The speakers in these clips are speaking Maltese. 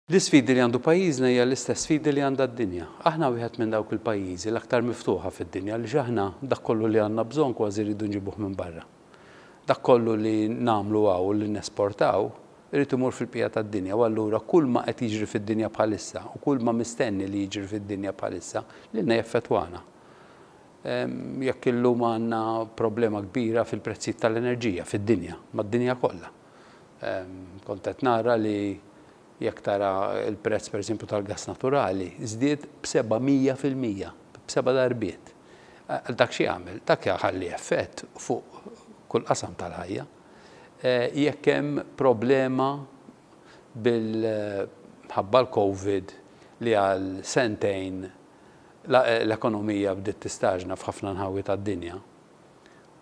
L-isfidi li għandu pajjiżna hija l-istess sfidi li għandha d-dinja. Aħna wieħed minn dawk il-pajjiżi l-aktar miftuħa fid-dinja għaliex aħna dak kollu li għandna bżonn kważi rridu nġibuh minn barra. Dak kollu li nagħmlu hawn u li nesportaw irid imur fil-bqija tad-dinja u allura kulma qed jiġri fid-dinja bħalissa u kulma mistenni li jiġri fid-dinja bħalissa lilna jaffettwana. Jekk illum għandna problema kbira fil-prezzijiet tal-enerġija fid-dinja, mad-dinja kollha. Kont qed nara li jekk tara l-prezz pereżempju tal-gass naturali żdied b'700 fil-mija, b'seba' darbiet. Dak xi jagħmel? Dak jħalli effett fuq kull qasam tal-ħajja. Jekk hemm problema bil ħabba l-Covid li għal sentejn l-ekonomija bdiet tistaġna f'ħafna nħawi tad-dinja,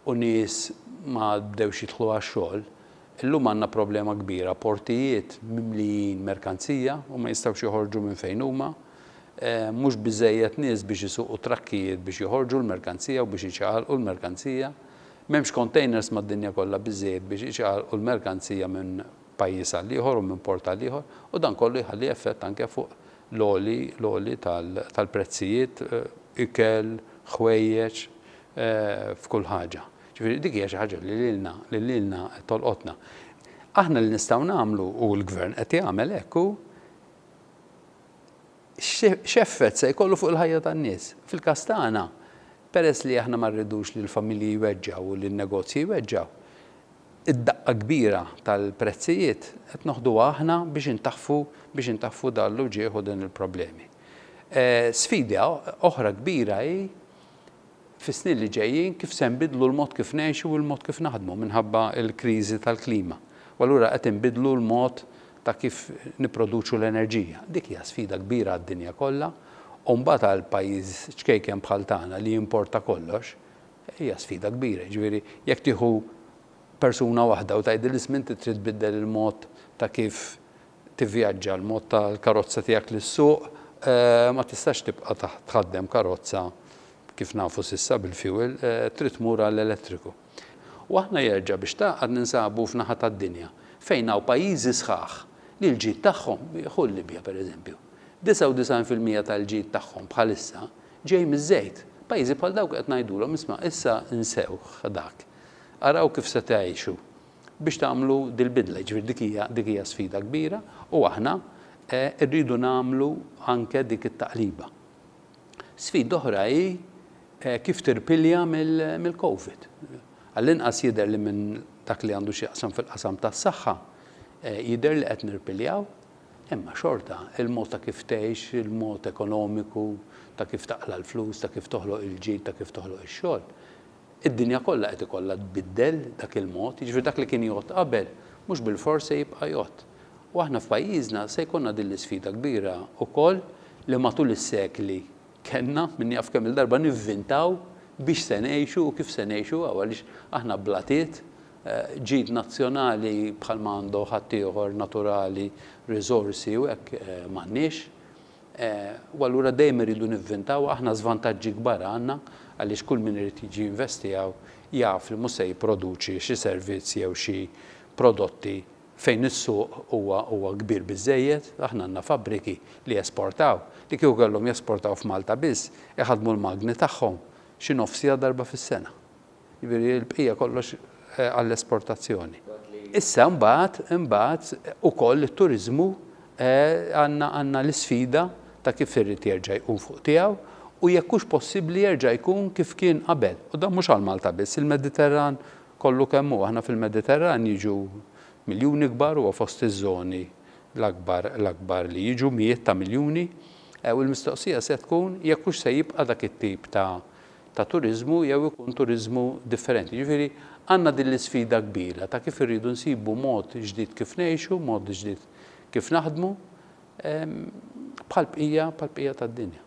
u nies ma għad bdewx jidħlu għax-xogħol, illum għandna problema kbira, portijiet mimlijin merkanzija u ma jistgħux joħorġu minn fejn huma, mhux biżżejjed nies biex isuqu trakkijiet biex joħorġu l-merkanzija u biex iċagħalqu l-merkanzija, m'hemmx kontejners mad-dinja kollha biżżejjed biex iċagħalqu l-merkanzija minn pajjiż għal ieħor u minn port għal ieħor u dan kollu jħalli effett anke fuq l-għoli, l-għoli tal-prezzijiet, ikel, ħwejjeġ, f'kull ħaġa. Ġifieri dik hija xi ħaġa li lilna, li lilna qed tolqotna. Aħna li nistgħu nagħmlu, u l-Gvern qed jagħmel hekk, hu x'effett se jkollu fuq il-ħajja tan-nies. Fil-każ tagħna, peress li aħna ma rridux li l-familji jweġġgħu u li n-negozji jweġġgħu, Id-daqqa kbira tal-prezzijiet qed noħduha aħna biex intaħfu biex intaħfu dan l-uġigħ u din il-problemi. Sfida oħra kbira hi fis-snin li ġejjin kif se nbiddlu l-mod kif ngħixu u l-mod kif naħdmu minħabba l-kriżi tal-klima. U allura qed inbiddlu l-mod ta' kif nipproduċu l-enerġija. Dik hija sfida kbira għad-dinja kollha u mbagħad għal pajjiż ċkejken bħal tagħna li jimporta kollox, Hija sfida kbira, jiġifieri jekk tieħu persuna waħda u tgħidilha isma' inti trid tbiddel il-mod ta' kif tivvjaġġa, l-mod tal-karozza tiegħek li ssuq, ma tistax tibqa' tħaddem karozza kif nafu s'issa bil-fuel, trid tmur għall-elettriku. U aħna jerġa' biex tgħaqqad ninsabu f'naħa tad-dinja fejn hawn pajjiżi sħaħ li l-ġid tagħhom, ħu l-Libja pereżempju, 99 fil-mija tal-ġid tagħhom bħalissa Ġej miż-żejt. Pajjiżi bħal dawk qed ngħidulhom, isma', issa insewh dak. Araw kif se tgħixu biex tagħmlu dil-bidla. Jiġifieri dik hija, dik hija sfida kbira u aħna rridu nagħmlu anke dik it-taqliba. Sfida oħra hi kif tirpilja mill-Covid. Għall-inqas jidher li minn dak li għandu x'jaqsam fil-qasam tas-saħħa, jidher li qed nirpiljaw. Imma xorta, il-mod ta' kif tgħix, il-mod ekonomiku, ta' kif taqla' l-flus, ta' kif toħloq il-ġid, ta' kif toħloq ix-xogħol, id-dinja kollha qed ikollha tbiddel dak il-mod, jiġifieri dak li kien jgħodd qabel mhux bilfors se jibqa' jgħodd. U aħna f'pajjiżna se jkollna din l-isfida kbira wkoll li matul is-sekli kellna min jaf kemm-il darba nivvintaw biex se ngħixu u kif se ngħixu hawn għaliex aħna blatiet, ġid nazzjonali bħal ma għandu ħaddieħor, naturali, riżorsi u hekk, m'għandniex. U allura dejjem irridu nivvintaw, aħna żvantaġġi kbar għandna għaliex kull min irid jiġi jinvesti hawn jaf li mhux se jipproduċi xi servizz jew xi prodotti fejn is-suq huwa huwa kbir biżżejjed, aħna għandna fabbriki li jesportaw li kieku kellhom jesportaw f'Malta biss iħaddmu l-magni tagħhom xi nofsija darba fis-sena. Jiġifieri l-bqija kollox għall-esportazzjoni. Issa mbagħad, imbagħad ukoll it-turiżmu għandna għandna l-isfida ta' kif irid jerġa' jqum fuq tiegħu u jekk hux possibbli jerġa' jkun kif kien qabel. U dan mhux għal Malta biss, il-Mediterran kollu kemm hu. Aħna fil-Mediterran jiġu miljuni kbar, huwa fost iż-żoni l-akbar l-akbar li jiġu mijiet ta' miljuni. U l-mistoqsija se tkun jekk hux se jibqa' dak it-tip ta' ta' turiżmu jew ikun turiżmu differenti. Jiġifieri għandna din l-isfida kbira ta' kif irridu nsibu mod ġdid kif ngħixu, mod ġdid kif naħdmu bħall-bqija bħall-bqija tad-dinja.